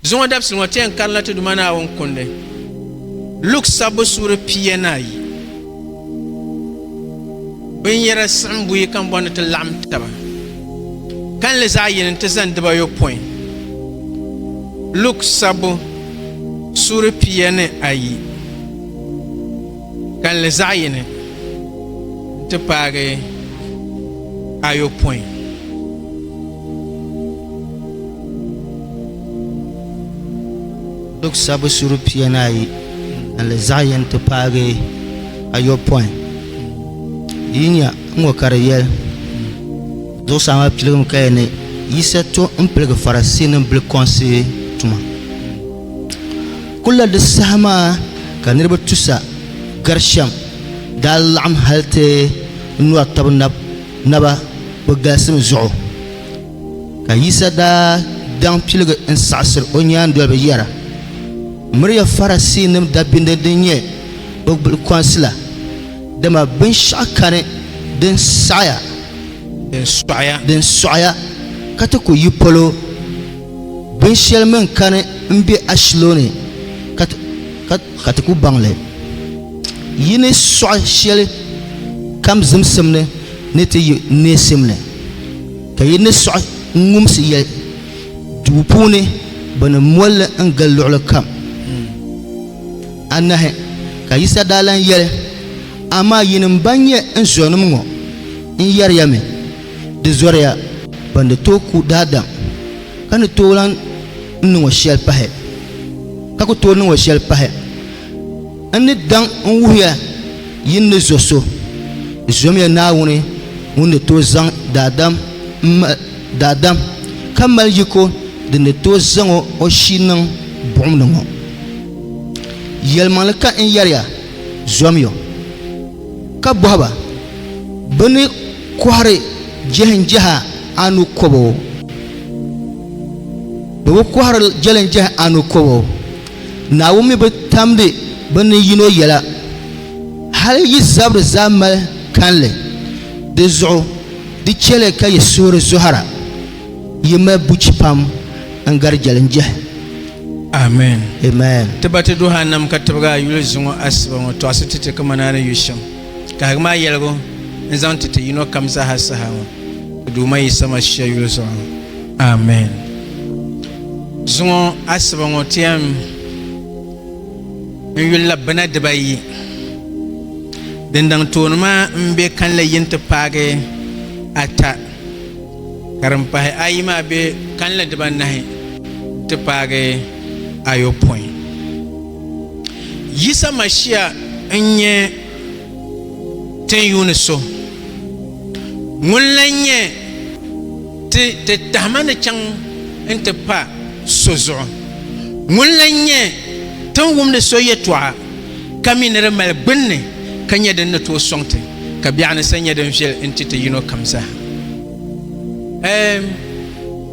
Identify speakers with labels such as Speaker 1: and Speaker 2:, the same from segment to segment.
Speaker 1: Zuŋɔ dabisili ŋɔ ti yɛn karinla ti Duuma Naawuni kundi Luk sabbu suuri pia ni ayi. Binyɛra siɣim buyi ka n bɔri ni ti laɣim taba kalinli zaɣ yini nti zani dibayopɔin. Luk sabbu suuri pia ni ayi. Kalinli zaɣ yini n-ti paagi ayopɔin.
Speaker 2: Duk sabbu suri pia ni ayi, kalinli zaɣ yini n-ti paagi ayopɔin. Yi nya ŋɔ ka di yɛli, Zuɣusaa maa piligimi kaya ni Yisa to m-piligi Farasiinim bilikɔŋsi tuma. Kulla di saha maa ka niriba tusa gari shɛm daa laɣim hali ti nyɔri taba naba bɛ galisim zuɣu. Ka Yisa daa daŋ piligi n-saɣisir o nyaandoliba yɛra, Miriya Farasiinim dabinniri din nyɛ bɛ gbulikɔnsi la, dama binshɛɣu kani din saɣiya, din sɔɣiya ka ti ku yi polo. Binshɛli mini kani m-be ashilo ni ka ti ku baŋ li. Yi ni sɔɣi shɛli kam zimsim ni ni ti yi neesim ni, ka yi ni sɔɣi n-ŋumsi yɛli duu puuni bɛ ni mol li n-gili luɣili kam. Anahi ka Yisa daa lan yɛli, Amaa yinim bɛn nyɛ n zuɔnim ŋɔ n yɛri ya mi, Di zɔriya ban di tooi ku daadam, ka ni tooi lan niŋ o shɛli pahi, ka ku tooi niŋ o shɛli pahi. N ni daŋ n-wuhiya yin ni zo so, zomiya Naawuni ŋun ni tooi zaŋ daadam ka mali yiko din ni tooi zaŋ o shii niŋ buɣim ni ŋɔ. Yɛlimaŋli ka n yɛri ya, zomiyo! ka bɔhi ba, Bɛ ni kɔhiri jɛlinjɛha anu kɔbo? Bɛ bi kɔhiri jɛlinjɛha anu kɔbo. Naawuni mi bi tamdi bɛ ni yino yɛla. Hal yi zabiri zaa mali kanli, di zuɣu di chɛ li ka yi suhuri zɔhira. Yi mali buchi pam n gari jeli n jehi. Amen.
Speaker 1: Amen. Ti
Speaker 2: ba ti duhi a nam
Speaker 1: ka tibigi a yuli zuŋɔ asiba ŋɔ tɔɣisi ti ti kaman a ni yu shɛm. Kahigimi a yɛligu n-zaŋ ti ti yino kam zaaha saha ŋɔ ka Duuma yi sama shia yuli zuɣu ŋɔ. Amen. Zuŋɔ asiba ŋɔ ti yɛn n yuli la bina diba ayi. Dindaŋ tooni maa m-be kanli yini ti paagi ata. ka din pahi ayi maa be kalinli dibanahi nti paagi ayopɔin. Yisa Mashia n-nyɛ tinyuuni so ŋun lan nyɛ ti titahima ni chaŋ nti pa so zuɣu ŋun lan nyɛ tiŋwumdi so yɛtɔɣa. ka mi ni di mali gbunni ka nyɛ din ni tooi sɔŋ ti, ka biɛɣu ni sa nyɛ din viɛl n-ti ti yino kam zaa. Ɛɛm,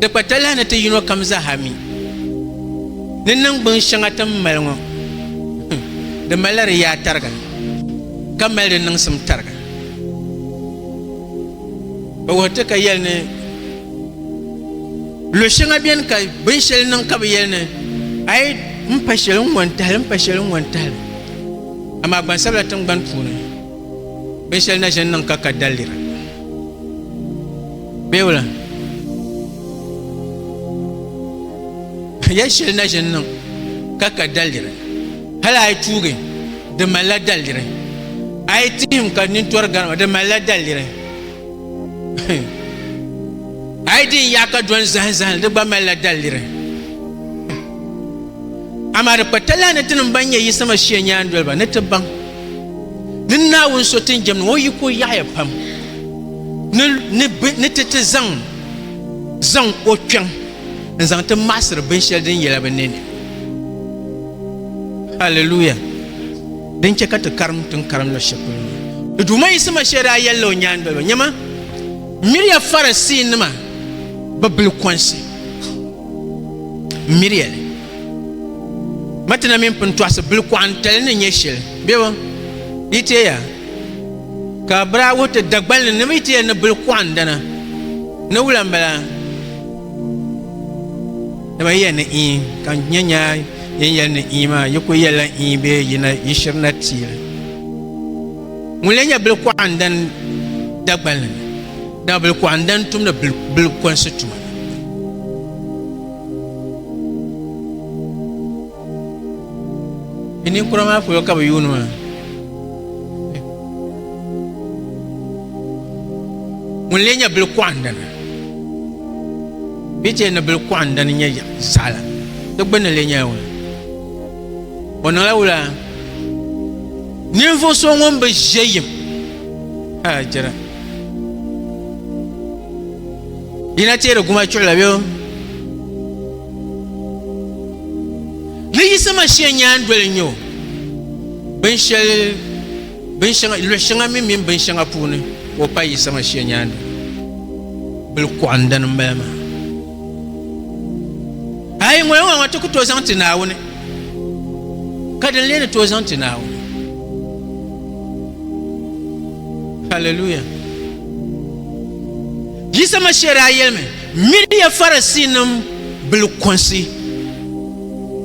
Speaker 1: di kpa talahi ni ti yino kam zaa mi ni niŋgbuŋ shɛŋa ti ni mali ŋɔ, di malila di yaa tariga, ka mali di niŋsim tariga. Bɛ wuhiri ti ka yɛli ni. Lo shɛŋa bɛni ka binshɛli niŋ ka bi yɛli ni a yi n pa shɛli n ŋɔn tahali n pa shɛli n ŋɔn tahali amaa gbansabila tingbani puuni binshɛli na ʒini niŋ ka ka daliri beewula yɛli shɛli na ʒini niŋ ka ka daliri hali a yi tuugi di malila daliri a yi tihim ka nintori garima di malila daliri A yi di n yaɣa ka dɔn zahim zahim di gba malila daliri. Amaa di kpa talahi ni tinim ban nyɛ Yisama shia nyaandoliba ni ti baŋ ni Naawuni so tin jɛmdi ŋɔ yiko yaɣiya pam ni ti ti zaŋ zaŋ o kpɛŋ n zaŋ ti maɣasiri binshɛli din yɛla bi nini. Hallelujah. Din chɛ ka ti karim ti ni karim luɣ shɛli polo maa, di Duuma Yisi Masia daa yɛlila o nyaandoliba, Nyama, m miri ya Farisiinima bɛ bilikɔnsi. M miri ya li. Matina mini pintɔɣisi bilikɔɣintali ni nyɛ shili bɛ bi yi ti ya, ka bɛ daa wuhi ti Dagbal ni ni bɛ yi ti ya ni bilikɔɣindana ni wula m-bala. Dama yi yɛli ni ii, ka n nya nya yin yɛli ni ii maa, yi kul yɛlila ii bee yi na yi shiri na ti li. Ŋun lee nyɛ bilikuɣandan Dagbanli ni? Dama bilikuɣandan tumdi bilikonsi tuma. Bɛ ninkura maa polo ka bɛ yuuni maa. Ŋun lee nyɛ bili kɔɣindana bɛ chɛ ni bili kɔɣindani nyɛ zaɣila di gbunni lee nyɛla wula o niŋla wula ninvuɣ so ŋun bi ʒe yim a jira yina teeri guma chuɣila bɛ Ni Yisa Mashia nyaandoli n-nyɛ o. Binshɛli, binshɛŋa, luɣ'shɛŋa mini mini binshɛŋa puuni ka o paai Yisa Mashia nyaandoli. Bilikɔɣindani m-bala maa. A yi ŋɔya ŋɔ, ti ku tooi zaŋ ti Naawuni, ka din lee ni tooi zaŋ ti Naawuni. Hallelujah! Yisa Mashia daa yɛlimi Miriya Farisiinim bilikɔnsi,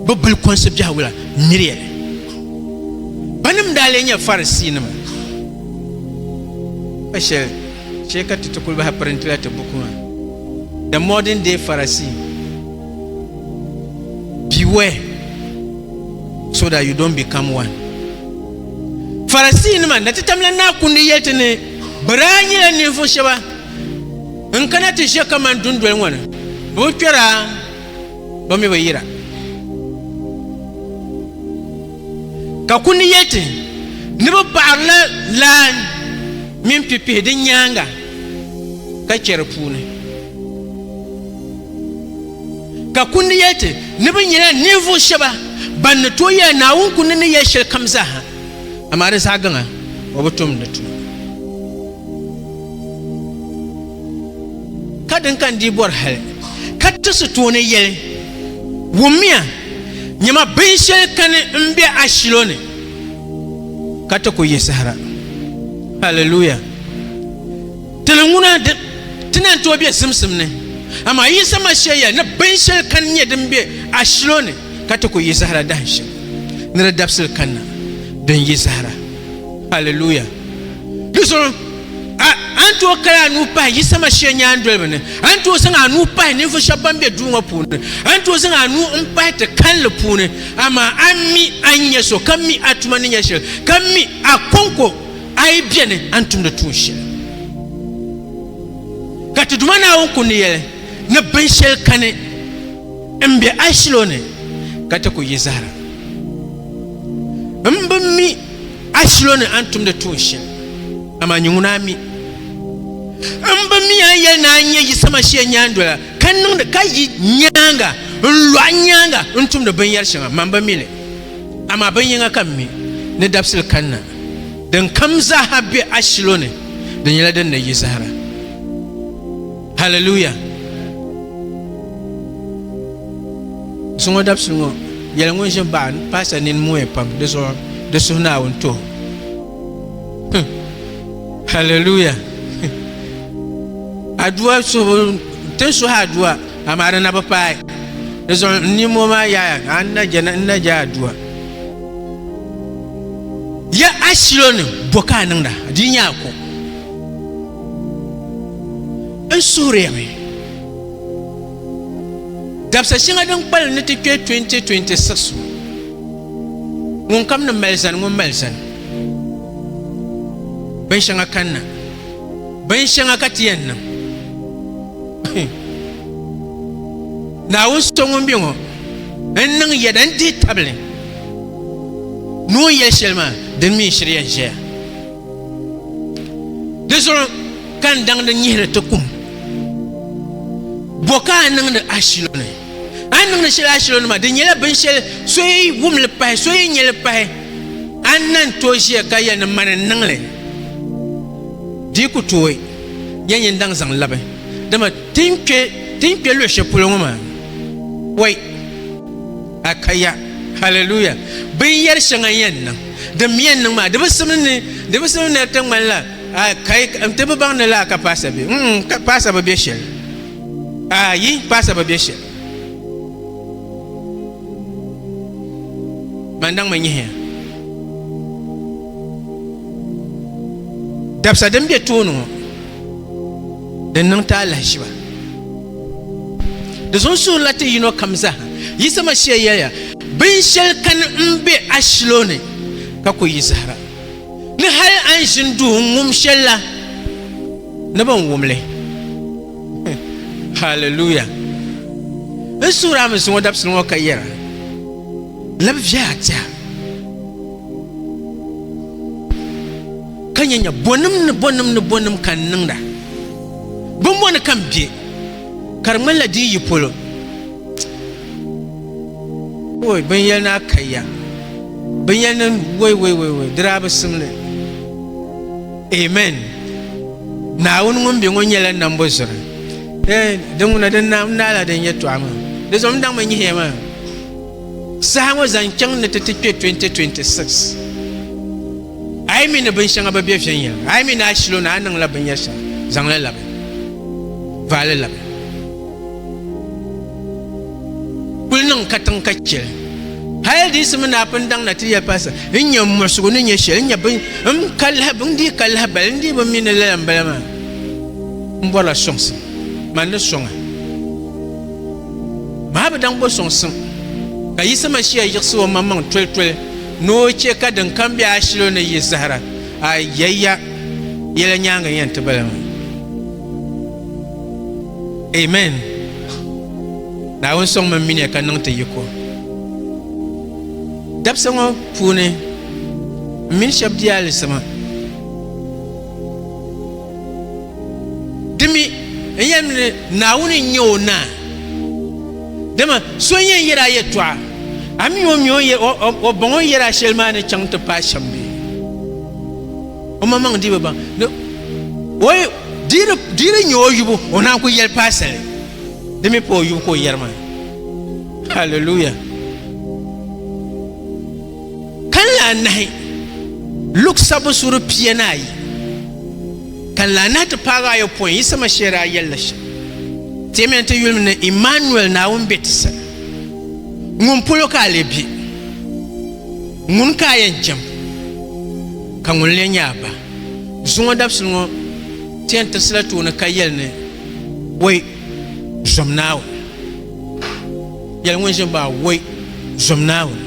Speaker 1: bɛ bilikɔnsi biɛhigu la, miriya li. Banim daa lee nyɛ Farisiinima pa shɛli, chɛ ka ti ti kul bahi pirintila ti buku maa, The Modern Day Pharisee, Beware so that you don't become one. Farisiinima, Natitamla Naa Kundi yɛli ti ni bɛ daa nyɛla ninvuɣ shɛba N kana ti ʒe kaman dundoli ŋɔ ni, bɛ bi kpɛr a, bɛ mi bi yir a. Ka kundi yɛti, Ni bi paɣirila laa mini pipihi di nyaaŋa ka chɛ di puuni. Ka kundi yɛti, Ni bi nyɛla ninvuɣ shɛba bɛn ni tooi yɛli Naawuni kundi ni yɛli shɛlikam zaaha, amaa di zaɣ gaŋa o bi tum di tuma. Ka din ka n-dii bɔri hali ka ti si tooni yɛli, wummiya, nyama binshɛli kani m-be a shilo ni ka ti ku yi sahira. Hallelujah! Tili ŋuna ti na n-tooi be simsim ni, amaa Yisa Masia yɛli ni binshɛli kani nyɛ din be a shilo ni ka ti ku yi sahira dahinshɛm ni di dabisili kanna din yi sahira. Hallelujah! Di zuɣu a ni tooi kali a nuu pahi Yisa Mashia nyaandoliba ni, a ni tooi zaŋ a nuu pahi ninvuɣ shɛba ban be duu ŋɔ puuni, a ni tooi zaŋ a nuu m-pahi ti kalinli puuni, amaa a mi a ni nya so, ka mi a tuma ni nya shɛli, ka mi a kɔŋko a yi beni a ni tumdi tuun shɛli. Ka ti Duuma Naawuni ku ni yɛli ni binshɛli kani m-be a shilo ni ka ti ku yi zahara. M bi mi A shilo ni a ni tumdi tuun shɛli, amaa nyɛ ŋuna mi. M bi mi a ni yɛli ni a nyɛ Yisa Masia nyaandola, ka niŋdi ka yi nyaaŋa n-lu a nyaaŋa n-tumdi binyɛr shɛŋa. Mam bi mi li, amaa bin yiŋa ka m mi, ni dabisili kanna, dinkam zaaha be a shilo ni, di nyɛla din ni yi zahara. Haliluya! So ŋɔ dabisili ŋɔ yɛli ŋun ʒin baɣa paasa nini mooya pam di zuɣu di suhu Naawuni tuhi. Hallelujah. Adua suhu tin suhi adua amaa di na bi paai. Di zuɣu n ni moo maa yaaya ka n na je n na je adua. Ya ashilo ni bo ka a niŋda di nya ko. N suhuriyami. Dabisa shɛŋa din kpalim ni ti kpe 2026 ŋɔ, ŋunkam ni mali zani ŋun mali zani. Binshɛŋa kanna. Binshɛŋa ka ti yɛn niŋ. Naawuni so ŋun be ŋɔ, n niŋ yɛda n-dihi tabili ni o ni yɛli shɛli maa, din mi n-shiri yɛn ʒɛya. Di zuɣu ka n daŋdi nyihiri ti kum. Bo ka a niŋdi ashilo ni? A ni niŋdi shɛli ashilo ni ma, di nyɛla binshɛli so yi wum li pahi, so yi nyɛ li pahi, a ni na n-tooi ʒiya ka yɛli ni mani n-niŋ li. Di yi ku tooi nyɛ nyin daŋ zaŋ labi, dama ti ni kpe luɣ shɛli polo ŋɔ maa, wai! A kaya. Hallelujah. Bin yɛri shɛŋa n yɛn niŋ. Din mi yɛn niŋ maa, di bi simdi ni, di bi simdi ni di ti ŋmani la, a kai, n ti bi baŋ ni lala ka paasa be. Mm, ka paasa bi be shɛli. A yi, paasa bi be shɛli. Man daŋ mi nyihiya. Dabisa din be tooni ŋɔ, din niŋ ti alahiziba. Di sunsuuni la ti yino kam zaa yiɣisi ma shee yɛliya, Binshɛli kani m-be ashilo ni ka ku yi zahira, ni hal a ni ʒini duhi n-ŋum shɛli la, ni bɛ ni wum li. Haleluya! N suhiri a mi zuŋɔ dabisili ŋɔ ka yɛra, Labi viɛhi a tɛha, ka nya nya bɔnim ni bɔnim ni bɔnim ka n niŋda. Bɛ mɔni ka m be, ka di ŋmanila di yi yi polo. Woi, binyɛl naa ka ya, binyɛl niŋ woi woi woi woi, di daa bi sim li. Amen! Naawuni ŋun be ŋɔ nyɛla nambo zuri. Ee, di ŋuna, di naala din yɛtɔɣa maa. Di zuɣu m daŋmi nyihiya maa. Saha ŋɔ zaŋ chaŋ ni ti ti kpe 2026. A yi mi ni binshɛŋa bi be viɛnyɛliŋga, a yi mi ni a shilo ni a niŋla binyɛr shɛli, zaŋ li labi. Vaai li labi. Kul niŋ katiŋ ka chɛ li. Hal di yiɣisimi ni a pun daŋ na ti yɛli Paasita, N nya m muɣisigu ni nyɛ shɛli, n nya bin m ka lahi, n dii ka lahibali, n dii bi mi ni lala m bala maa. M bɔrila sɔŋsim. Man di sɔŋ a. Maa bi daŋ bo sɔŋsim, ka Yisa Masia yiɣisi omaŋmaŋ tolitoli ni o chɛ ka din kam be ashilo ni yi zahira. A yɛliya, Yɛla nyaaŋa n-yɛn ti bala maa. Amen! Naawuni sɔŋmi m-minia ka niŋ ti yiko. Dabisa ŋɔ puuni, m mini shɛb di alizama. Di mi n yɛlim ni Naawuni n-nyɛ o Naa. Dama so n-yɛn yɛri a yɛtɔɣa, a mi o mi o bɔŋɔ yɛri a shɛli maa ni chaŋ ti paai shɛm bee? Omaŋmaŋ dii bi baŋ ni o dii di nyɛ o yubu, o naan ku yɛli paasali. Di mi pa o yubu ka o yɛri maa. Hallelujah! Kanli anahi, Luk sabbu suuri pia ni ayi, kanli anahi ti paagi ayopɔin, Yisa Mashia daa yɛlila shɛm, Teemiya nti yuli mi ni Immanuel, Naawuni be ti sani. Ŋun polo ka a lee be? Ŋuni ka a yɛn jɛm, ka ŋuni lee nyɛ a ba? Zuŋɔ dabisili ŋɔ ti yɛn tirisila tooni ka yɛli ni, Bɔy, zom Naawuni! Yɛli ŋun ʒini maa, Woi, zom Naawuni!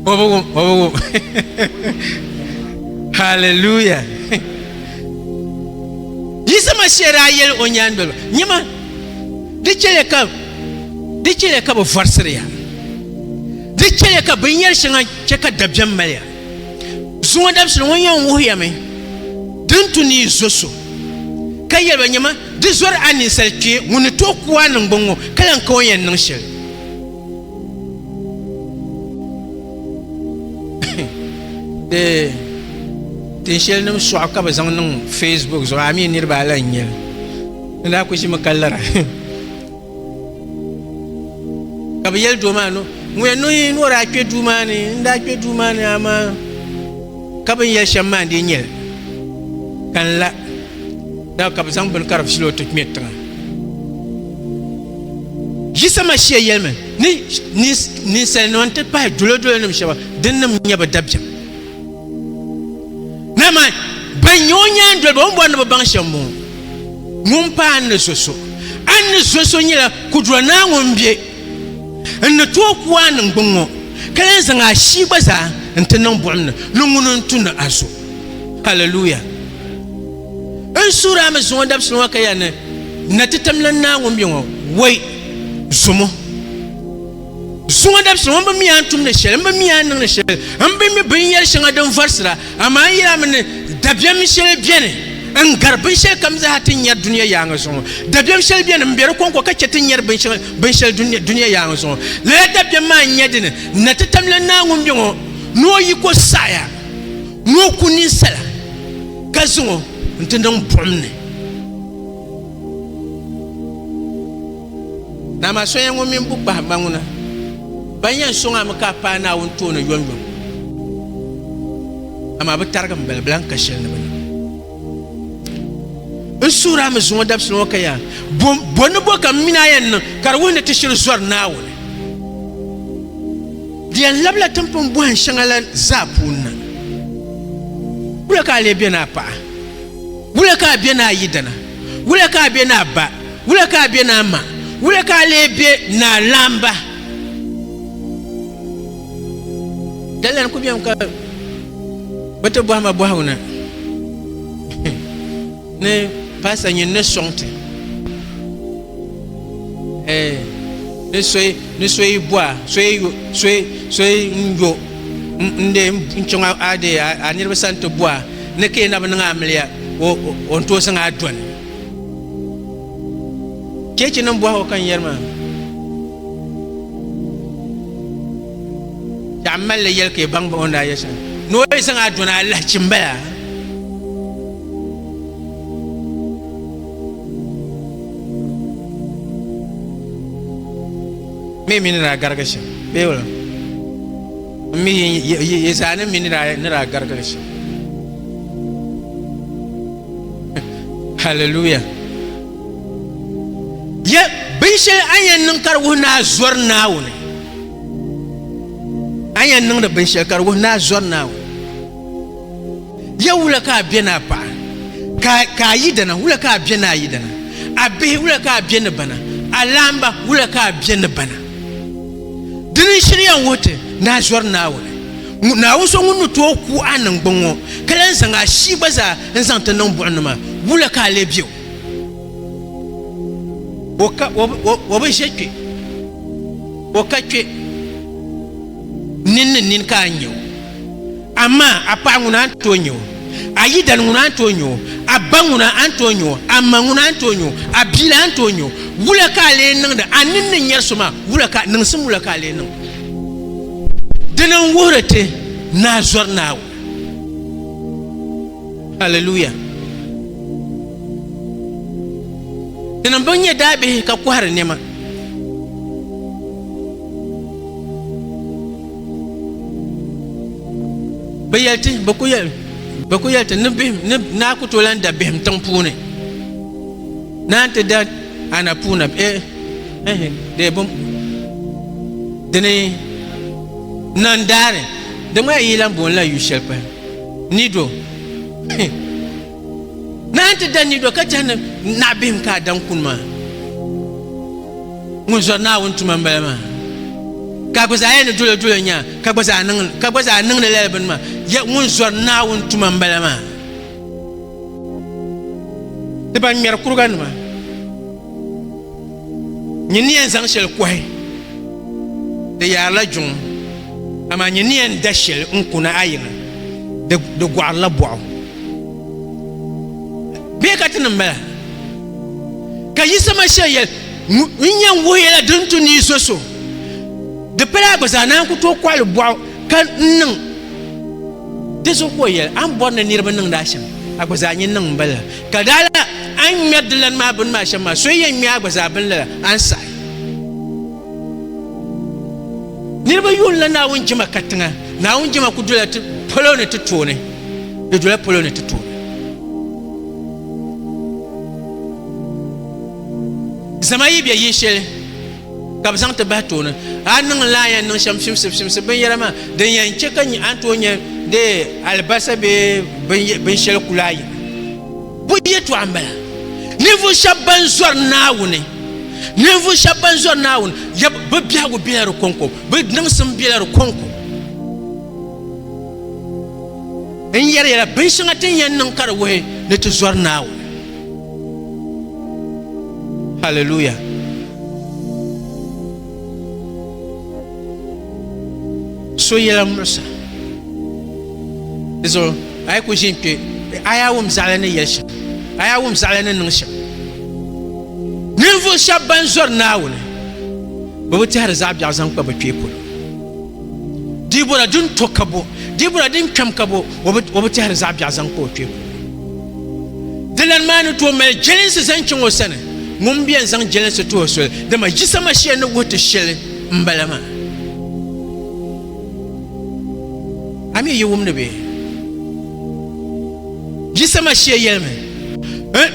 Speaker 1: O bi wum, o bi wum. Hallelujah! Yisa Masiya daa yɛli o nyaandoliba, Nyama, di chɛliya ka, di chɛliya ka bɛ vɔrisiri ya. Di chɛliya ka binyɛri shɛŋa chɛ ka dabiɛm mali ya. Zuŋɔ dabisili ŋɔ yɛn wuhi ya mi di ni tu ni yi zo so, ka yɛli ba, Nyama, Di zɔri a ninsal kpee ŋun ni tooi ku a niŋgbuŋ ŋɔ ka lan ka o ni yɛn niŋ shɛli. Di tin shɛlinim sɔɣu ka bɛ zaŋ niŋ Facebook zuɣu, a mi niriba a lan nya li. N daa kuli ʒimi ka lara ka bɛ yɛli doo maa ni ŋun yɛn niŋ ni o daa kpe duu maa ni. N daa kpe duu maa ni amaa ka bɛ ni yɛli shɛm maa n-dii nya li ka n la. Daa ka bɛ zaŋ bini kari filo ti kpɛ tiŋa. Yisa Mashia yɛlimi ni ninsalinima n-ti pahi dolodolinima shɛba dinnim nyɛ bɛ dabiɛm. Dama ban nyɛ o nyaandoliba o ni bɔri ni bɛ baŋ shɛm m-bɔŋɔ, Ŋun pa an ni zo so, an ni zo so nyɛla Kudura Naa ŋun be n ni tooi ku a niŋgbuŋ ŋɔ, ka lahi zaŋ a shia gba zaa n-ti niŋ buɣim ni ni ŋuni n-tu ni a zo. Hallelujah. N suhiri a mi zuŋɔ dabisili ŋɔ ka ya ni na ti tamla naa ŋun bɛ ŋɔ wei zumo. Zuŋɔ dabisili ŋɔ n bi mi a tumdi shɛli, n bi mi a niŋdi shɛli, n bi mi binyɛri shɛŋa din vɔrisira, amaa n yɛli a mi ni dabiɛm shɛli beni n gari binshɛli kam zaa ti nyari dunia yaaŋa zuŋɔ. Dabiɛm shɛli beni m be di kɔŋko ka chɛ ti nyari binshɛli dunia yaaŋa zuŋɔ. Lala dabiɛm maa n-nyɛ dini, na ti tamla naa ŋun bɛ ŋɔ ni o yiko saɣiya. ni o ku ninsala ka zaŋ o nti niŋ buɣim ni. Naa maa soya ŋɔ mini bukpahimba ŋuna ban yɛn sɔŋ a mi ka a paai Naawuni tooni yomyom, amaa bɛ tarigi m balibilan ka shili ni bɛ na. N suhu daa mi zuŋɔ dabisili ŋɔ ka yaa, bo, bo ni bo ka m mini a yɛn niŋ ka di wuhi ni ti shiri zɔri Naawuni? Di yɛn labila timpini bɔhin shɛŋa la zaa puuni na. Wula ka a lee be ni a paɣa? Wula ka a be ni a yidana? Wula ka a be ni a ba? Wula ka a be ni a ma? Wula ka a lee be ni a laamba? Dalian ku bɛmi ka bi ti bɔhima bɔhigu ni ni paasa nyin ni sɔŋ ti ni soyi ni soyi bɔha soyi yo soyi soyi n yo n de n chɔŋ a de a niriba sani ti bɔha ni ka yɛn na bi niŋ amiliya o n tooi zaŋ a dɔni Chechi nim bɔhigu ka n yɛri maa. Daɣi m mali yɛli ka yi baŋ bahi o ni daa yɛli shɛm ni o yi zaŋ a dɔna alahi chim bala. Mi mi ni daa garigi shɛm bee wala mi yi zaa ni mi ni daa garigi shɛm. hallelujah ya binshɛli a yɛn niŋ ka di wuhi ni a zɔri naawuni a yɛn niŋdi binshɛli ka di wuhi ni a zɔri naawuni ya wula ka a bɛ ni a paɣa ka a yidana wula ka a bɛ ni a yidana a bihi wula ka a bɛ ni bana a laamba wula ka a bɛ ni bana dini shiri yɛn wuhi ti ni a zɔri naawuni Naawuni so ŋun ni tooi ku a niŋgbuŋ ŋɔ, ka lan zaŋ a shii gba zaa n-zaŋ ti niŋ buɣimnima, wula ka a lee be o? O bi ʒe kpe, o ka kpe, nini ni nini ka a ni nya o. Amaa a paɣa ŋuna a ni tooi nya o, a yidana ŋuna a ni tooi nya o, a ba ŋuna a ni tooi nya o, a ma ŋuna a ni tooi nya o, a bia la a ni tooi nya o. Wula ka a lee niŋdi? A nini ni nyari so maa, niŋsim wula ka a lee niŋ? Dini n wuhiri ti ni a zɔri Naawuni. Hallelujah. Dini n bi nyɛ daabihi ka kɔhiri nɛma. Bɛ yɛli ti bɛ ku yɛli bɛ ku yɛli ti ni bihim ni naa ku tooi lan da bihim tiŋ puuni naan ti da Ana puu na bɛ ehi dee bum dini nan daari di ŋmaya yi lan booni la yu shɛli pahi nido naan ti da nido ka chɛhi ni naɣ bihim ka a daŋ kuni maa ŋun zɔri naawuni tuma n bala maa ka gba zaa yɛ ni dolo dolo nya ka gba zaa niŋdi lala bini maa ŋun zɔri naawuni tuma n bala maa ni ban ŋmɛri kuriga nima nyɛ ni yɛn zaŋ shɛli kɔhi di yaarila juŋ amaa nyɛ ni yɛn da shɛli n kuna a yiŋa di gɔɣirila bɔɣu bee ka ti niŋ bala ka Yisa Masia yɛli n yɛn wuhi yɛla din tu ni yi zo so di pala a gba zaa naan ku tooi kɔɣili bɔɣu Ka n niŋ di zuɣu ka o yɛli, A ni bɔri ni niriba niŋdi a shɛm, a gba zaa nyin niŋ m bala. Ka dala a ni ŋmɛri di lani maa bini maa shɛm maa, so yɛn ŋmɛ a gba zaa bini lala, a ni saɣi. Niriba yuunila Naawuni jɛma katiŋa. Naawuni jɛma ku dola ti polo ni ti tooni. Di dola polo ni ti tooni. Zama yi be yinshɛli ka bɛ zaŋ ti bahi tooni. A ni niŋ laaya n-niŋ shɛm fimsifimsi binyɛra maa, din yɛn chɛ ka a ni tooi nya dee alibasa bee binshɛli kul a yina. Bɔ yɛtɔɣa m-bala, ninvuɣ shɛb bɛn zɔri Naawuni, ninvuɣ shɛb bɛn zɔri Naawuni, yab, bɛ biɛhigu bela di kɔŋko, bɛ niŋsim bela di kɔŋko. N yɛri ya la, binshɛŋa ti ni yɛn niŋ ka di wuhi ni ti zɔri Naawuni. Hallelujah. So yɛla muɣisa. Di zuɣu a yi ku ʒin kpe a yaa wum zaɣali ni yɛli shɛm a yaa wum zaɣali ni niŋ shɛm. Ninvuɣu shɛba ban zɔri Naawuni bɛ bi tɛhiri zaɣ biɛɣu zaŋ kpa bɛ kpee polo. Dibɔra din to ka bo Dibɔra din kpɛm ka bo o bi tɛhiri zaɣ biɛɣu zaŋ kpa o kpee polo. Dilan maa ni tooi mali jɛlinsi zaŋ chaŋ o sani, ŋun bɛn zaŋ jɛlinsi tuhi soli, dama Yisa Masia ni wuhi ti shɛli m-bala maa. A mi yi wumdi bee? Yisa Masia yɛlimi,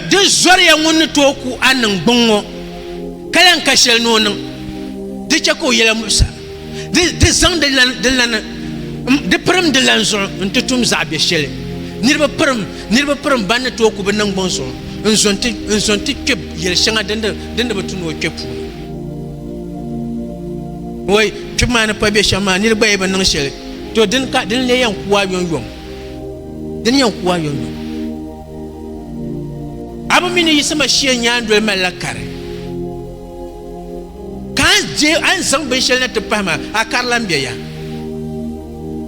Speaker 1: Di zɔriya ŋun ni tooi ku a niŋgbuŋ ŋɔ, ka lan ka shɛli ni o niŋ di chɛ ka o yɛla muɣisa. di zaŋ di lani di pirim di lani zuɣu n ti tum zaɣ bɛ shɛli niriba pirim niriba pirim ban ni tooi ku bi niŋgbɔŋ zuɣu n zo n ti kpɛ yɛli shɛŋa din di bi tu ni o kpɛ puuni wai kpib maa ni pa bɛ shɛm maa niri gba yi bi niŋ shɛli to din ka din le yɛn kuwa yɔnyɔm din yɛn kuwa yɔnyɔm a bi mi ni yiɣisima shia nyaandoli malila kari Ka a je a ni zaŋ binshɛli na ti pahi maa, a kari lan bɛ ya.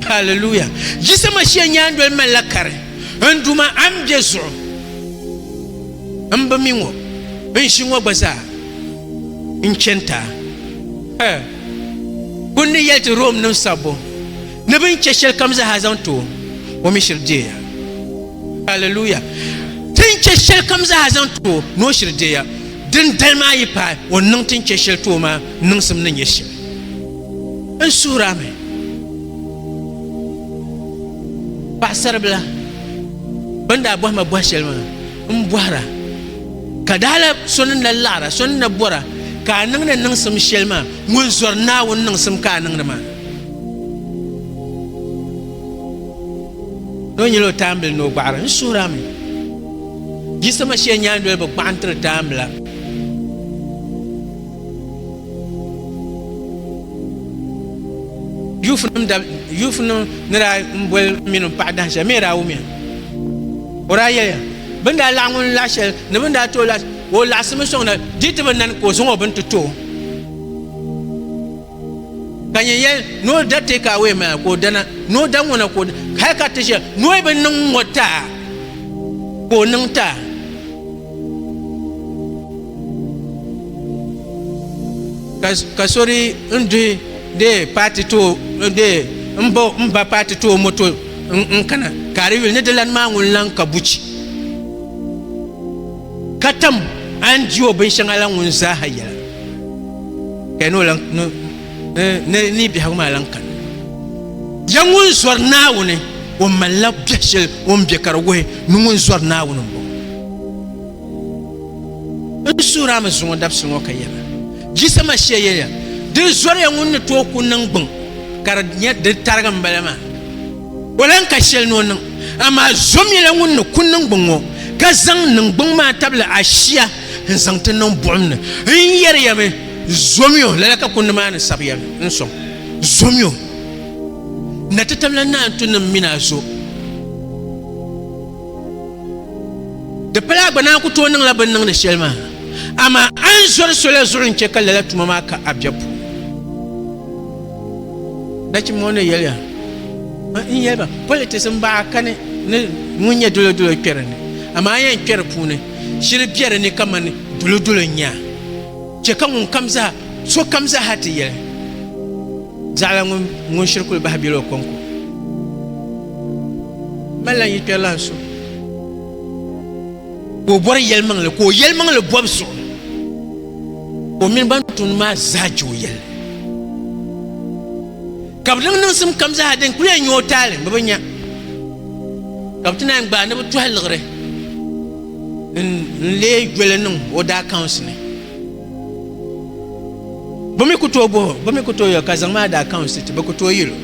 Speaker 1: Hallelujah! Jisama shee nyaandoli mali la kari, N Duuma, a ni bɛ zuɣu m bi mi ŋɔ, n ʒi ŋɔ gba zaa n chani ti a. Hɛɛ! Kundi yɛli ti Rome nim sabbu ni bɛ ni chɛ shɛli kam zaa zaŋ ti o, o mi shiri deei ya. Hallelujah! Ti ni chɛ shɛli kam zaa zaŋ ti o, ni o shiri deei ya. Din dali maa yi paai o ni niŋ ti ni chɛ shɛli ti o maa, n niŋsim ni nyɛ shɛli. N suhir a mi, paɣisaribila, bɛ ni daa bɔhi ma bɔh shɛli maa, m bɔhir a. Ka daala so ni na laɣir a, so ni na bɔr a ka a niŋ ni niŋsim shɛli maa, ŋun zɔri Naawuni niŋsim ka a niŋdi maa. Ni o nyɛla o taambili ni o gbaɣiri. N suhiri a mi, Jisɔ Mashia nyaandoli bi gbaɣi n-tiri taambila. Juufunim ni daa boli m mini m paɣa dahin shɛli, mi daa wumiya. O daa yɛliya, Bɛ ni daa laɣi ŋun laɣi shɛli ni bɛ ni daa ti o laɣi shɛli, o laɣisimi sɔŋda, di yi ti bi nani ka o zaŋ o bini ti ti o. Ka nya yɛli ni o da take away maa ka o dana, ni o da ŋɔna ka o hali ka ti shɛli ni o bi niŋ ŋɔ taa ka o niŋ taa. Ka so di n duhi de paati to de n bo n ba paati to o moto n kana ka di yuli ni di lani maa ŋun lan ka buchi ka tam a ni di o binshɛŋa la ŋun zaaha yɛla. Kaya ni o lan ni biɛhigu maa lan kani. Ya ŋun zɔri Naawuni o malila biɛhi shɛli o ni bɛ ka di wuhi ni ŋun zɔri Naawuni m-bɔŋɔ. N suhiri a mi zuŋɔ dabisi ŋɔ ka yɛra, Jisa Mashia yɛliya, di zɔriya ŋun ni tooi ku niŋ gbuŋ ka di nyɛ di tarigi m-bala maa, o lan ka shɛli ni o niŋ, amaa zɔmiya ŋun ni ku niŋ gbuŋ ŋɔ ka zaŋ niŋ gbuŋ maa tabili ashia. n zaŋ ti niŋ buɣum ni n yɛri ya mi zomio lala ka kundi maa ni sabi ya n sɔŋ zomio na ti tabila naa n tu niŋ mi naa zo di pala gba naa ku tooi niŋla bin niŋdi shɛli maa amaa a ni zɔri sola zuɣu n chɛ ka lala tuma maa ka a biɛbu nachim ŋɔ ni yɛliya n yɛliba politics n baɣa kani ni ŋun nyɛ dolo dolo kpɛri ni amaa yɛn kpɛri puuni Shili be di ni kamani dulodolo n-nya chɛ ka ŋunkam zaa, sokam zaaha ti yɛli, Zaɣila ŋun shiri kuli bahi bela o kɔŋko. Mali lan yi kpɛrilan so ka o bɔri yɛlimaŋli ka o yɛlimaŋli bɔbu zuɣu ka o mini ban tumdi maa zaa je o yɛlli. Ka bɛ niŋ niŋsim kam zaa din kul yɛn nyu o taali bɛ bi nya, ka bɛ ti naan gbaai ni bɛ tɔhi liɣiri n-leei joli niŋ o daa kaunsi ni. Bɛ mi ku tooi bɔh o, bɛ mi ku tooi yɛl o ka zaŋm a daa kaunsi ti, bɛ ku tooi yil o.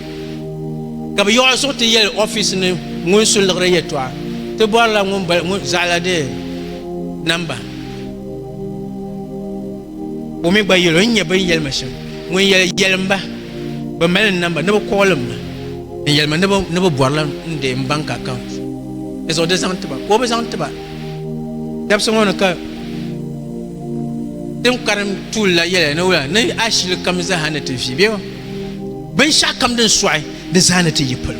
Speaker 1: Ka bɛ yiɣ o zuɣu ti yɛli ɔfis ni ŋun su liɣiri yɛtɔɣa ti bɔrila ŋun zaɣila di namba. O mi gba yɛl o, N nya bɛ ni yɛli ma shɛm. Ŋun yɛli, Yɛlim ba, bɛ mali n namba, ni bɛ kɔɣilim ma, n yɛli ma ni bɛ bɔrila n deei m bank account ni zaŋ di zaŋ ti ba, ka o bi zaŋ ti ba. Dabisi ŋɔ ni ka din karim tuuli la yɛliya ni wula, ni a shili kam zaaha ni ti vi bɛ o, binshɛɣukam din sɔɣi di zaa ni ti yi palo.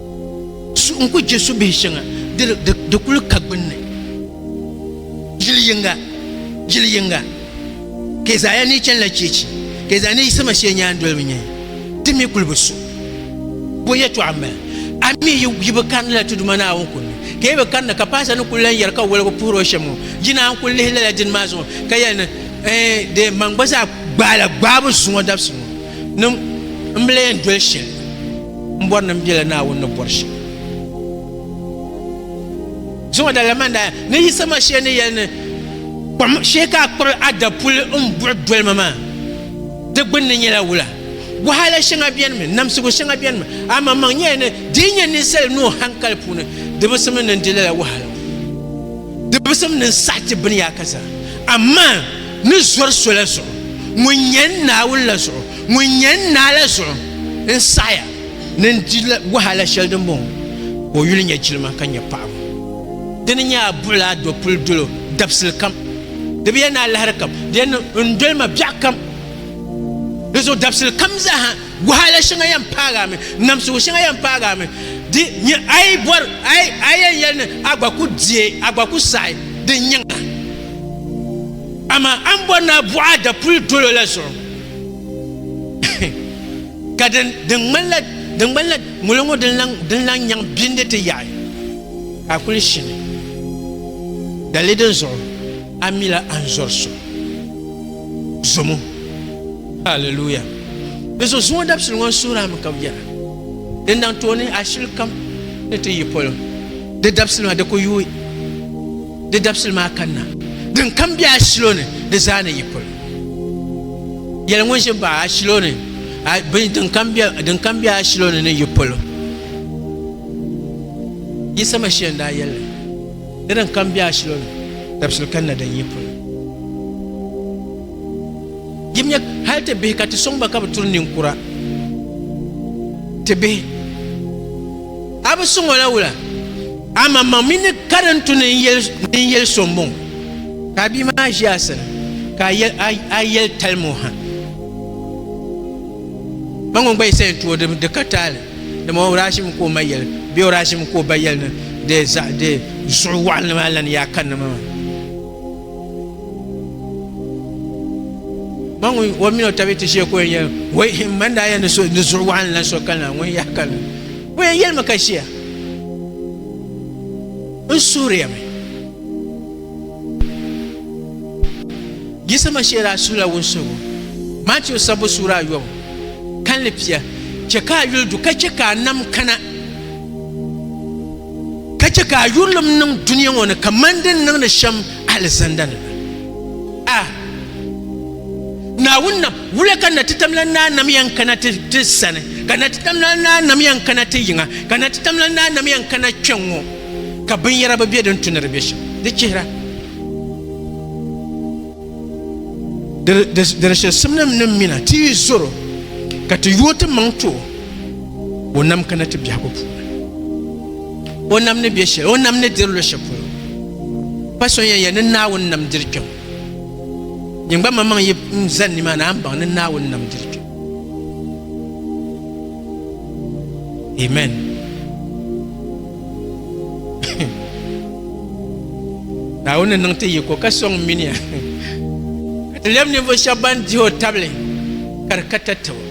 Speaker 1: Suɣu n-kuli je subihi shɛŋa diri di kuli ka gbunni. Yili yiŋga, yili yiŋga, Keezaaya ni yi chanila cheechi, Keezaaya ni yiɣisirima shee nyaan doli bi nyɛya, di mi kuli bi su. Bo yɛtɔɣa m-bala, a mi yi bi karinila Tiduma Naawuni kum ni, ka yi bi karina ka Paasa ni kuli lan yɛri ka woligu puhiri o shɛm ŋɔ, yi naan kuli lihi lala dini maa zuɣu ka yɛli ni, Ɛɛn dee, man gba zaa gbaala gbaabu zuŋɔ dabisi ŋɔ ni m bi lan yɛn doli shɛli. M bɔri ni m bela Naawuni ni bɔri shɛm. Zuŋɔ dali la man daa ni Yisa Mashia ni yɛli ni kom shee ka a kpiri a dapuli n buɣi doli ma maa, di gbunni nyɛla wula? Wahala shɛŋa benimi, namsigu shɛŋa benimi, a maŋmaŋ nyɛla ni di yi nya ninsali nuu hankali puuni, di bi simdi ni n di lala wahala ŋɔ. Di bi simdi ni n saɣi ti biniyaaka zaa. Amaa ni zɔri sola zuɣu ŋun nyɛ n Naawuni la zuɣu, Ŋun nyɛ n naa la zuɣu n saɣiya ni n di wahala shɛli din bɔŋɔ ka o yuli nyɛ jilima ka nyɛ paɣibu. Di ni nyɛ a buɣili a dɔpuli dolo dabisili kam. Di bi yɛn ni alahiri kam, di yɛn ni n doli ma biɛɣu kam. Di zuɣu dabisili kam zaa ha wahala shɛŋa yɛn paagi a mi, namsigu shɛŋa yɛn paagi a mi. Di nyɛ a yi bɔri a yɛn yɛli ni a gba ku diɛ, a gba ku saɣi din nyɛŋ la. Amaa a ni bɔri ni a buɣi a dapuli dolo la zuɣu. ka din ŋmanila din ŋmanila ŋuli ŋɔ din laŋ din laŋ nyaŋ bindi ti yaɣi ka a kuli shini dalili din zuɣu a mila a ni zɔri so zomo haleluya di zuɣu zuŋɔ dabisili ŋɔ n suhiri mi ka bi yɛra din daŋ tooni a shili kam ni ti yi polo di dabisili maa di ku yuui Di dabisili maa kanna din kam be a shilo ni di zaa ni yi pol. Yɛli ŋun ʒi baɣa a shilo ni bini din kam be din kam be a shilo ni ni yi pol. Yisa Mashia n daa yɛli ni din kam be a shilo ni dabisili kanna din yi pol. Yim nyɛ hali ti bihi ka ti sɔŋ ba ka bi turi ninkura ti bihi. A bi suŋ o la wula? Amaŋmaŋ mi ni karim tu ni n yɛli so m-bɔŋɔ, ka bia maa ʒi a sani, ka a yɛli talim o ha. Ba ŋɔ gba yi sa yɛn tu o di ka taali, dama o daa ʒimi ka o ma yɛli, bee o daa ʒimi ka o ba yɛli ni di zuɣu waɣinli maa lan yaa kanna ma maa. Ba ŋɔ o mini o tabi ti ʒiya ka o yɛn yɛli, Woi! M ma ni daa yɛli ni zuɣu waɣinli lan so kanna, ŋun yaa kanna. O yɛn yɛlimi ka ʒiya n suhuriya mi yiɣisima shee daa suhila wunsuhigu Matiu sabbu suura ayobu kanli pia chɛ ka a yuli du ka chɛ ka a nam kana ka chɛ ka a yurilim niŋ dunia ŋɔ ni kamani din niŋdi shɛm alizanda ni la a Naawuni na Wula ka Natitamla Naa nam yɛn kana ti ti sani? Ka Natitamla Naa nam yɛn kana ti yiŋa? Ka Natitamla Naa nam yɛn kana kpɛŋŋo ka binyɛra bi bɛ din tu ni di bɛ shɛm? Di chihira di di shɛlisimnim ni mina ti yi zɔr o ka ti yooi ti maŋ ti o, o nam kana ti biɛhigu puuni. O nam ni bɛ shɛli, o nam ni diri luɣ shɛli polo pa so yɛn yɛli ni Naawuni nam diri kpɛm. Din gba maŋmaŋ yi n zani ni maa ni a ni baŋ ni Naawuni nam diri kpe. Amen. Naawuni ni niŋ ti yiko ka sɔŋ mini ya ka ti lɛm ninvuɣu shɛba ban dihi o tabili ka di ka tatabo.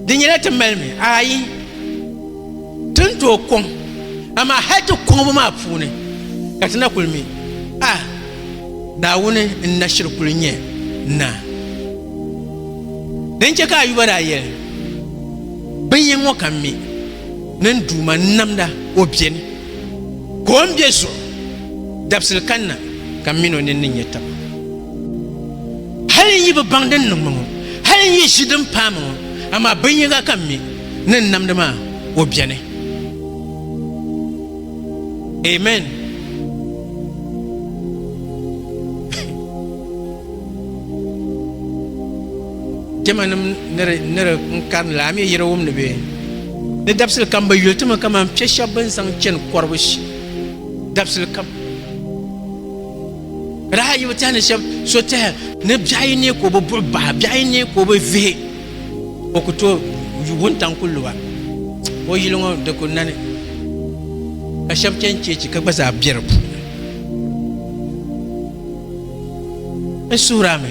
Speaker 1: Di nyɛla ti mali mi? Ayi. Ti ni tooi kɔŋ, amaa hal ti kɔŋbu maa puuni ka ti na kuli mi, A Naawuni, n na shiri kuli nyɛ naa. Din chɛ ka Ayuba daa yɛli, Bin yini ŋɔ ka n mi ni n Duuma n-namda, o beni, ka o ni be zuɣu, dabisili kanna ka m mini o nini ni nya taba. Hal n yi bi baŋ din niŋ ma ŋɔ, hal n yi ʒi din paai ma ŋɔ, amaa bin yiŋga ka n mi, ni n namdi maa, o beni. Amen. Jɛmanim ni di n-karini la, a mi yiri wumdi bee? Ni dabisili kam bi yuli ti mi kaman piɛ shɛb bɛn zaŋ chani kɔribu dabisili kam. Di daa yi bi tɛhi ni shɛb so tɛhi ni biɛɣu yi neei ka o bi buɣi bahi, biɛɣu yi neei ka o bi vihi. O ku tooi yu wuntaŋ ku lu ba. O yili ŋɔ di ku nani ka shɛba chani cheechi ka gba zaa be di puuni. N suhiri a mi,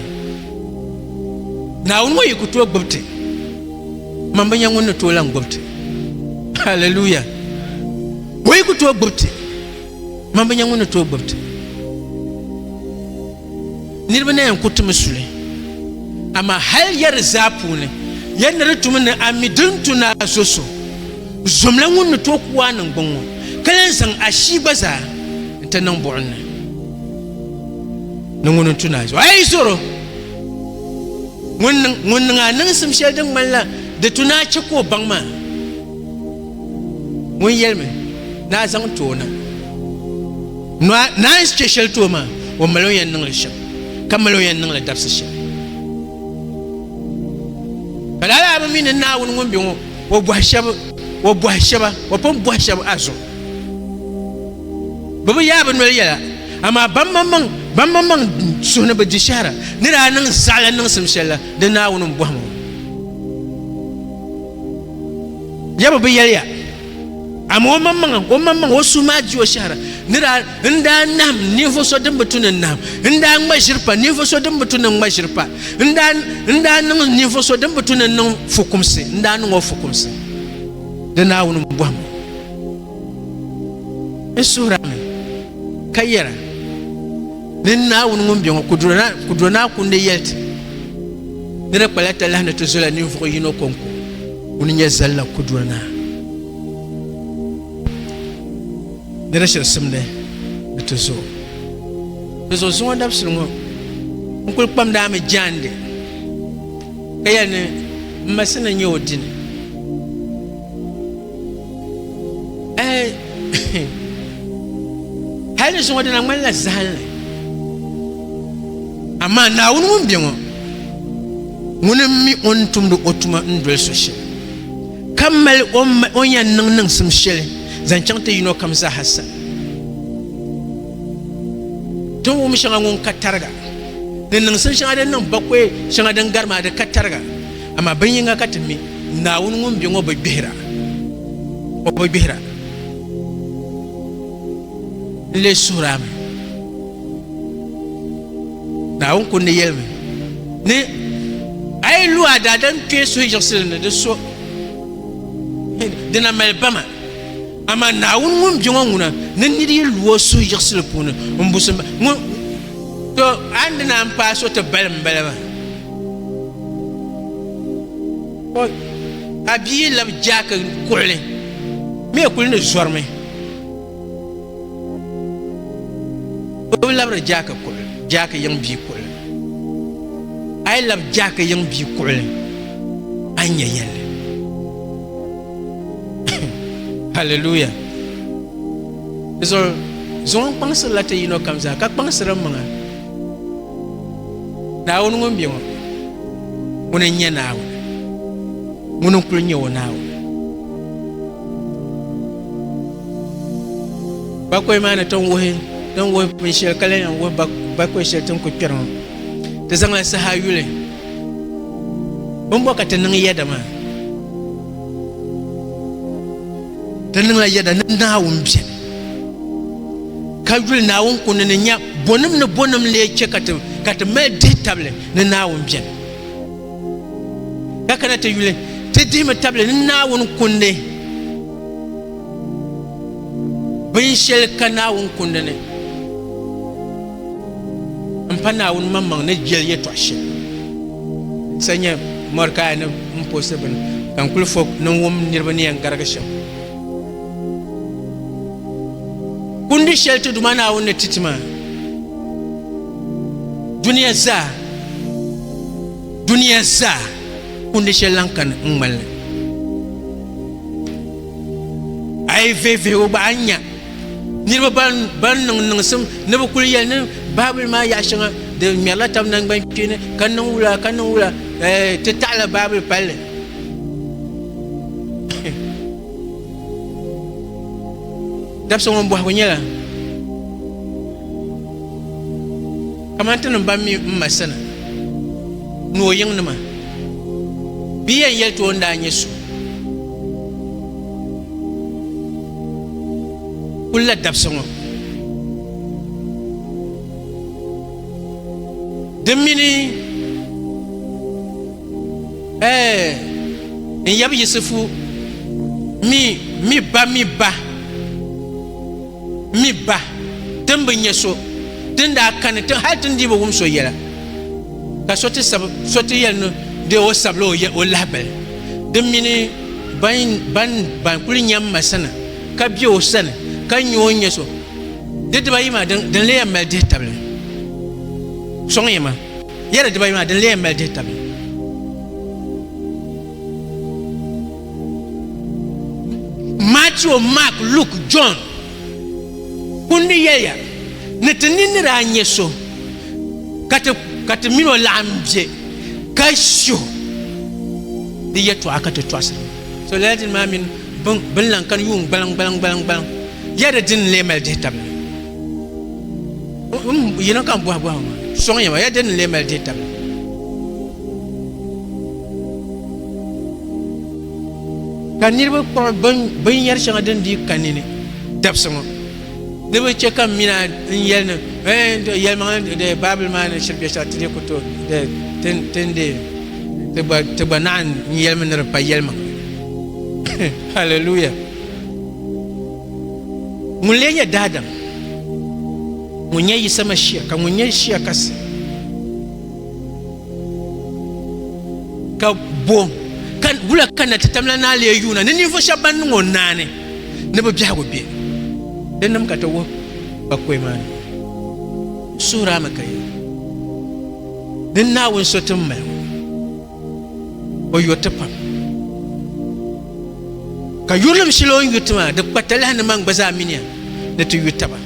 Speaker 1: Naawuni ŋɔ yi ku tooi gbubi ti, man bi nya ŋun ni tooi lan gbubi ti. Haleluya! O yi ku tooi gbubi ti, man bi nya ŋun ni tooi gbubi ti. Niriba na yɛn ku timi suli, amaa hal ya di zaa puuni, ya ni di tumi ni a mi din tu ni a zo so zomla ŋun ni tooi ku a niŋgbuŋ ŋɔ, ka lan zaŋ ashii gba zaa n-ti niŋ buɣim ni ni ŋuni n-tu ni a zo. A yi zoro, ŋun niŋ a niŋsim shɛli din ŋmanila di tu ni a chɛ ka o baŋ maa. Ŋun yɛlimi ni a zaŋ ti o na nɔ a ni a ni chɛ shɛli ti o maa, o mali o yɛn niŋ li shɛm, ka mali o yɛn niŋ li dabisi shɛm. Ka lala a bi mi ni Naawuni ŋun be ŋɔ, o bɔhi shɛb, o bɔhi shɛba, o pun bɔhi shɛb a zuɣu. Bɛ bi yaai bɛ noli yɛla, amaa bammaŋmaŋ, bammaŋmaŋ suhu ni bɛ di shɛhira ni daa niŋ zaɣila niŋsim shɛli la, di Naawuni m-bɔhi ma ŋɔ. Yaba bi yɛli ya, amaa o maŋmaŋa o maŋmaŋa o suhu maa di o shɛhira. Ni daa n daa nahim ninvuɣ so din bi tu ni n-nahim, n daa ŋma ʒiri pa ninvuɣ so din bi tu ni n-ŋma ʒiri pa, n daa n daa niŋ ninvuɣ so din bi tu ni n-niŋ fukumsi, n daa niŋ o fukumsi. Di Naawuni m-bɔhim o, n suhir a mi, ka yɛr a, Ni n Naawuni ŋun be ŋɔ, ku do naa kundi yɛli ti, ni di kpala talahi ni ti zola ninvuɣ yino kɔŋko. Ŋuni n-nyɛ Zalla Kuduri Naa? Di ni shiri simdi di ti zuɣu. Di zuɣu zuŋɔ dabisili ŋɔ n kuli kpamdi a mi jaande ka yɛli ni m ma sini n-nyɛ o dini. hali ni zuŋɔ dina ŋmanila zahanli amaa naawuni ŋun bɛ ŋɔ ŋun n mi o ni tumdi o tuma n doli so shɛli ka mali o ni yɛn niŋ niŋsim shɛli zaŋ chaŋ ti yino kam zaaha sa tin wum shɛŋa ŋun ka tariga ni niŋsim shɛŋa din niŋ bakɔi shɛŋa din gari maa di ka tariga Amaa bin yiŋa ka ti mi, Naawuni ŋun be ŋɔ bi gbihira. O bi gbihira. N lee suhir a mi, Naawuni ku ni yɛli mi ni a yi lu a daadam n kpee suhuyiɣisili ni di so, dina mali bama. Amaa Naawuni ŋun be ŋɔ ŋuna ni nir yi lu o suhuyiɣisili puuni n busim ba. Ŋun, to, a ni di naan paai so ti balim m-bala maa. a bia lab jaaki kuɣili mee kuli ni zɔrimi o bi labiri jaaki kuɣili jaaki yiŋ bia kuɣili a yi lab jaaki yiŋ bia kuɣili a ni nya yɛlli haleluya di zuɣu zuŋɔ n kpaŋsirila ti yino kam zaa ka kpaŋsiri maŋa Naawuni ŋun be ŋɔ, ŋuni n-nyɛ Naawuni, ŋuni n-kul nyɛ o Naawuni. Bakɔi maa ni ti ni wuhi binshɛli ka lan yɛn wuhi bakɔi shɛli ti ni kul kpɛri ŋɔ, ti zaŋla saha yuli. Bimbɔ ka ti niŋ yɛda maa? Ti niŋla yɛda ni Naawuni beni. Ka yuli Naawuni kundi ni nya bonim ni bonim lee che ka ti ka ti mali dihi tabili ni Naawuni beni. Ka kana ti yuli, ti dihimi tabili ni Naawuni kundi binsheli ka Naawuni kundi ni n pa Naawuni maŋmaŋ ni jeli yetɔɣa sheli. Sa nya Mordekaya ni m posi bini ka n kuli fo ni n wum niriba ni yɛn garigi shem. Kundi shɛli ti Duuma Naawuni ni ti ti maa, duniya zaa, duniya zaa kundi shɛli lan kani n ŋmani li. A yi vihi vihigu gba, a ni nya niriba ban niŋ niŋsim ni bɛ kuli yɛli ni Baabuli maa yaɣ shɛŋa di ŋmɛrila tab naŋgban kpeeni ka niŋ wula ka niŋ wula, ti taɣila Baabuli palli. dabisa ŋɔ bɔhigu nyɛla kamani ti niŋ ban mi m ma sani ni o yiŋnima bɛ yɛn yɛli ti o ni daa nyɛ so kulla dabisa ŋɔ di mini Ɛɛ, n yab Yisifu, mi, mi ba, mi ba, mi ba, ti ni bi nya so, ti ni daa kani tiŋ hal ti ni dii bi wum so yɛla, ka so ti sab so ti yɛli ni dee o sabila o o lahabali, di mini ban, ban, ban kul nya m ma sani, ka be o sani, ka nya o ni nya so, di dibaayi maa, din, din leei mali dihitabili? Sɔŋ ya ma. Yɛli dibayi maa dini lee mali dihi tabi? Matthew, Mark, Luke, John kundi yɛliya ni ti ni nira nyɛ so ka ti mini o laɣim bɛ ka shiho di yɛtɔɣa ka ti tɔɣisiri so lala dini maa mini binlaŋ ka yuun gbaliŋ gbaliŋ gbaliŋ gbaliŋ yɛli dini lee mali dihi tabi? Yino kam bɔhi bɔhi ma sɔŋ yɛma ya dini n-lee mali deei tabili. Ka niriba kpuɣi binyɛri shɛŋa din dii ka nini dabisi ŋɔ ni bi chɛ ka mina n-yɛli ni yɛlimaŋli Baabuli maa ni shiri bɛ shɛli ti dee ku tooi ti gba naɣin n-yɛlimi ni di pa yɛlimaŋli. Hallelujah. Ŋun lee nyɛ daadam? Ŋun nyɛ Yisa Mashia, ka ŋun nyɛ Shia kasi? Ka bo ka wula ka na ti tam la naa lee yuuna ni ninvuɣu shɛba ban niŋ o naani ni bɛ biɛhigu be? Di nim ka ti wuhi kpakɔi maa ni o suhiri a mi ka yɛli, Din Naawuni so ti ni mali ŋɔ. O yo ti pam. Ka yurilim shili o ni yo ti maa, di kpa talahi ni man gba zaa miniya ni ti yo taba.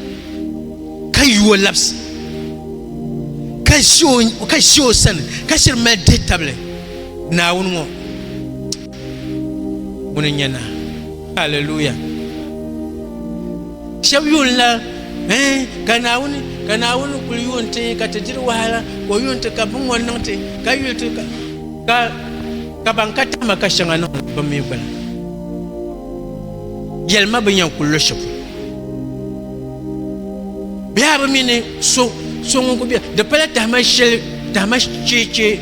Speaker 1: Ka yo o labisi, ka ʒi o sani, ka shiri mali dihi tabili Naawuni ŋɔ ŋuni n-nyɛ naa. Hallelujah! Shɛb yuunila, Ɛɛ, ka Naawuni, ka Naawuni kul yuun ti ka ti diri wahala, ka o yuun ti ka biŋŋɔ niŋ ti, ka yuli ti ka, ka ban ka tahi ma ka shɛŋa niŋ ni bɛ mi gba la. Yɛli ma bɛ ni yɛn kul lo shɛli polo. Bɛ yaa bi mi ni so, so ŋun kul be, di pala tahima shɛli, tahima cheechee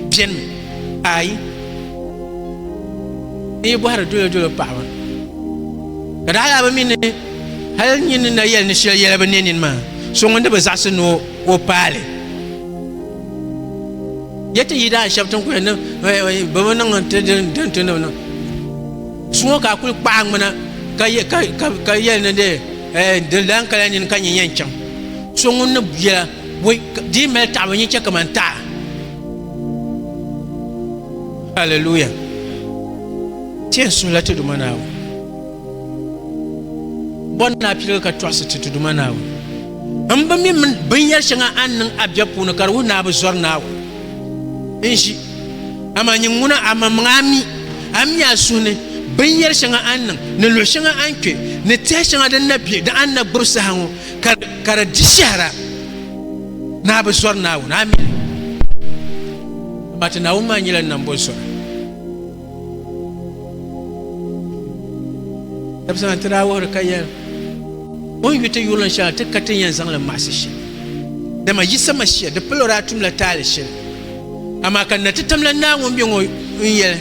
Speaker 1: benimi. Ayi. N yi bɔhiri dolo dolo paɣaba ka daa yaa bi mi ni hali nyin ni na yɛli ni shɛli yɛla bi ne nini maa so ŋun di bi zaɣisi ni o paali yɛ ti yi daa shɛbi tin kuli ni bi bi niŋ ti din ti ni bi niŋ so ŋɔ ka a kuli kpaɣa ŋmina ka yɛli ni de di lan kala nini ka nyɛ yɛn chaŋ so ŋun ni yɛla di mali taɣaba nyɛ chɛ kamani taɣa Hallelujah. Tiɛ suhila ti duma naawu. Bɔ ni naa piligu ka tɔɣisi ti ti duma naawu. N bi mi binyɛri shɛŋa a niŋ a bɛ puuni ka di wuhi naa bi zɔri naawu. N ʒi. Amaa nyin ŋuna a maŋmaŋ a mi. A mi a suhu ni binyɛri shɛŋa a niŋ ni luɣi shɛŋa a ni kpe ni tɛha shɛŋa din na bɛ di a ni na gbubi saha ŋɔ. ka di di shɛhira ni a bi zɔri Naawuni amin mati Naawuni maa nyɛla nambɔ zɔri dabisana ti daa wuhiri ka yɛn o ni yuti yurili shɛŋa ti ka ti yɛn zaŋli maɣasi shɛli dama yi sama shia di palo daa tumla taali shɛli amaa ka na ti tamla Naawuni bɛ ŋɔ n yɛli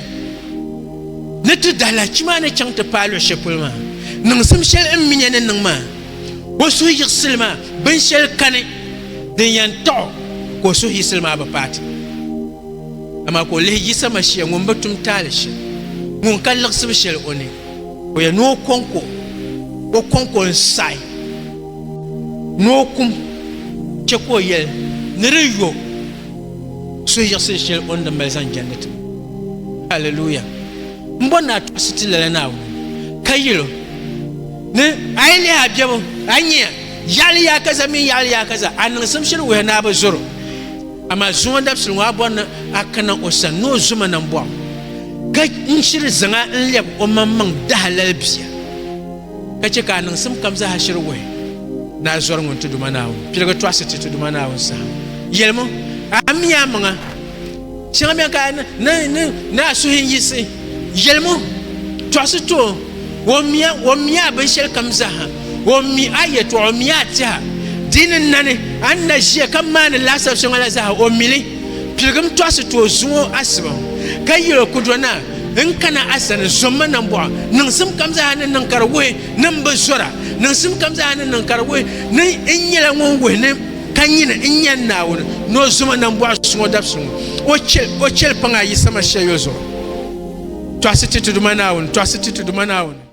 Speaker 1: ni ti dahi lahichi maa ni chaŋ ti paai luɣi shɛli polo maa niŋsim shɛli n mi ni niŋ maa o suhu yiɣisili maa binshɛli kani din yɛn taɣ o ka o suhu yiɣisili maa bi paati amaa ka o lihi Yisa Mashia ŋun bi tum taali shɛli ŋun ka liɣisibu shɛli o ni o yɛn ni o kɔŋko o kɔŋko n saɣi ni o kum chɛ ka o yɛli ni di yo suhu yiɣisili shɛli o ni di mali zaŋ jɛndi ti haleluya M bɔri ni a tɔɣisi ti lala Naawuni, ka yɛl o ni a yi lihi a biɛbu, a ni nya yaɣili yaakaza mini yaɣili yaakaza, a niŋsim shiri wuhi ni a bi zɔr o. Amaa zuŋɔ dabisili ŋɔ a bɔri ni a kana o sani ni o zo ma nambɔɣu, ka n-shiri zaŋ a n-lɛb omaŋmaŋ dahalali bia, ka chɛ ka a niŋsim kam zaa shiri wuhi ni a zɔri ŋun Ti Duuma Naawuni piligi tɔɣisi ti Ti Duuma Naawuni saha. Yɛlim o, A mi amaŋa! Shɛŋa bɛn ka ni a suhi yiɣisi yɛlimu tɔɣisi ti o, o mi a binshɛli kam zaaha, o mi a yɛtɔɣa, o mi a tɛha, di ni nani a ni na ʒiya ka maani laasabu shɛŋa la zaaha, o mi li. Piligim tɔɣisi ti o, zuŋ o asiba, ka yɛl o, Kudɔn naa, n kana a sani, zɔ m ma nambɔɣu. Niŋsim kam zaaha ni niŋ ka di wuhi ni m bi zɔra, niŋsim kam zaaha ni niŋ ka di wuhi ni n nyɛla ŋun wuhi ni Ka nyini n-nya Naawuni ni o zoma nambɔɣu suŋɔ dabsuŋɔ, o chɛ o chɛlipaŋa yi sama shɛyɔzuɣu. Tɔɣisi Ti Ti Duuma Naawuni, Tɔɣisi Ti Ti Duuma Naawuni.